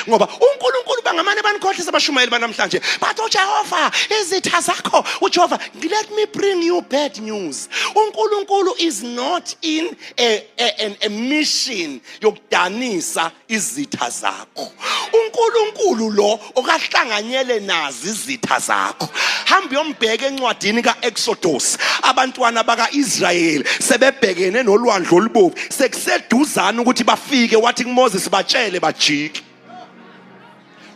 ngoba uNkulunkulu bangamane banikhohlisa abashumayeli banamhlanje bathi uJehova izitha zakho uJehova let me bring you bad news uNkulunkulu is not in a, a, a, a mission yokudanisa izitha zakho uNkulunkulu lo okahlanganyele nazi izitha zakho hamba uyombheka encwadini kaExodus abantwana bakaIsrayeli sebebhekene nolwandle olubomvu sekuseduzana ukuthi bafike wathi kuMoses batshele bajike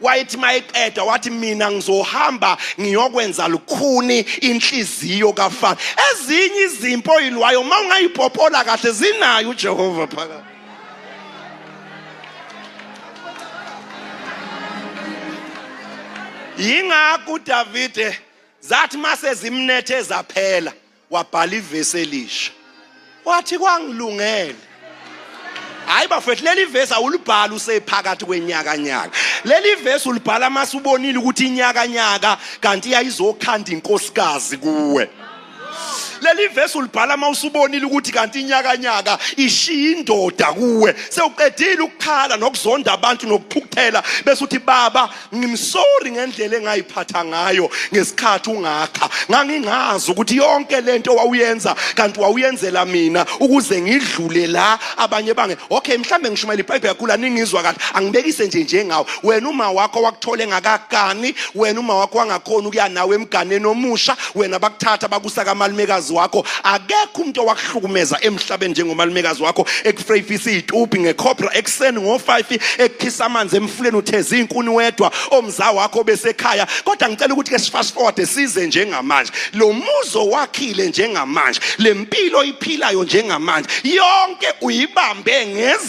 wayethi mayeqeda wathi mina ngizohamba ngiyokwenza lukhuni inhliziyo kafana ezinye izimpo oyilwayo uma ungayipopola kahle zinayo uJehova phakathi yingakho uDavide zathi mase zimnethe zaphela wabhala ivesi elisha wathi kwangilungele hayi bafethu leli vesi awulibhali usephakathi kwenyakanyaka leli vesi ulibhala uma subonile ukuthi inyakanyaka kanti iyayizokhanda inkosikazi kuwe leli vesi ulibhala uma usubonile ukuthi kanti inyakanyaka ishiya indoda kuwe sewuqedile ukukhala nokuzonda abantu nokuphukuthela bese uthi baba ngimsori ngendlela engayiphatha ngayo ngesikhathi ungakha ngangingazi ukuthi yonke lento wawuyenza kanti wawuyenzela mina ukuze ngidlule la abanye bange okay mhlambe ngishumayela ibhayibheli yakhula ningizwa kahle angibekise nje njengawe wena uma wakho wakuthole ngakakani wena uma wakho wangakhona ukuya nawe emganeni omusha wena bakuthatha bakusa kamalumekazi wakho akekho umuntu owakuhlukumeza emhlabeni njengomalumekazi wakho ekufreyifisa iy'tubhi ngekhobra ekuseni ngo-five ekukhisa amanzi emfuleni utheza iy'nkuni wedwa omza wakho besekhaya kodwa ngicela ukuthi ke sifast forward size njengamanje lo muzi owakhile njengamanje le mpilo oyiphilayo njengamanje yonke uyibambe ngezi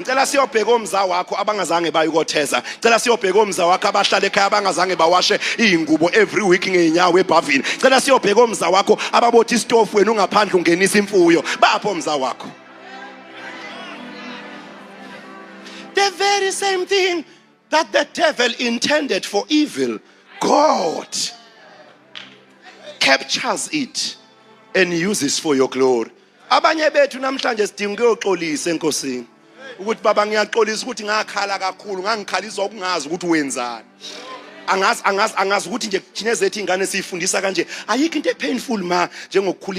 Ngicela siyobheka omza wakho abangazange baye kotheza. Cela siyobheka omza wakho abahlala ekhaya abangazange bawashe izingubo every week ngeenyawo ebhavini. Cela siyobheka omza wakho ababothi istofu wena ungaphandle ungenisa imfuyo. Bapho omza wakho. The very same thing that the devil intended for evil, God captures it and uses for your glory. Abanye bethu namhlanje sidinga ukuyoxolisa enkosini. Ukuthi baba ngiyaxolisa ukuthi ngakhala kakhulu, ngangikhalisa ukungazi ukuthi wenzani. Angazi angazi angazi ukuthi nje thina zethu ingane siyifundisa kanje. Ayikho into epainful ma njengokukhulisa